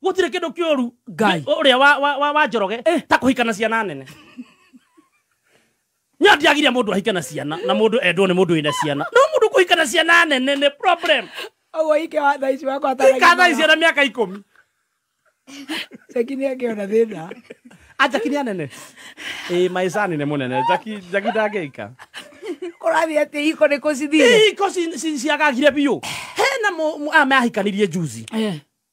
gutire kindu kioru Ngai. uria wa wa wa, wa njoroge Eh. ta kuhika na ciana nene nya ndiagiria mundu ahike na ciana na mundu endwo ni mundu wina ciana no mundu kuhika na ciana nene ni problem Oguo ike wa thaa ici wakwa ataragia ikatha magana. ciana miaka ikumi Jackie nĩ angĩona thĩna. ajaki ni anene eh my son ni munene jaki jaki ndangika Kũrathiĩ atĩ iko nĩ kũcithire. iko ci- ci- ciagagire biũ hena mũ- mũ- a mehikanirie juzi Eh.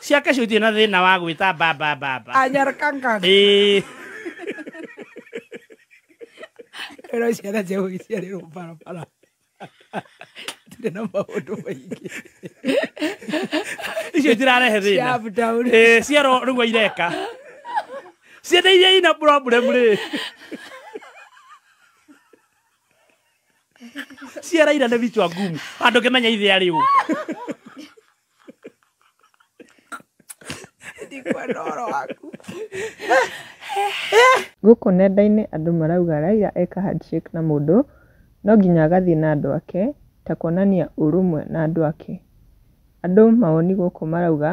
ciake cio itirĩ na thĩna wa gwĩta mbamba mbamba anyarkangan Ĩĩ. ĩno ciana cia gũgĩciarĩrwo barabara tũrĩ na maũndũ maingĩ icio itirarehe thĩna ciabdown Ĩĩ, ciero nĩguo ireka ciana iria ina problem rĩ ciara ira nĩ vichwa ngumu andũ ngĩmenya ithĩa rĩu Ndikwa ndoro waku. Gũkũ nenda-inĩ andũ marauga Raila eka handshake na mũndũ no nginya agathiĩ na andũ ake ta kuonania ũrũmwe na andũ ake. Andũ mawoni gũkũ marauga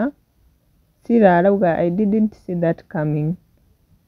Sila arauga I didn't see that coming.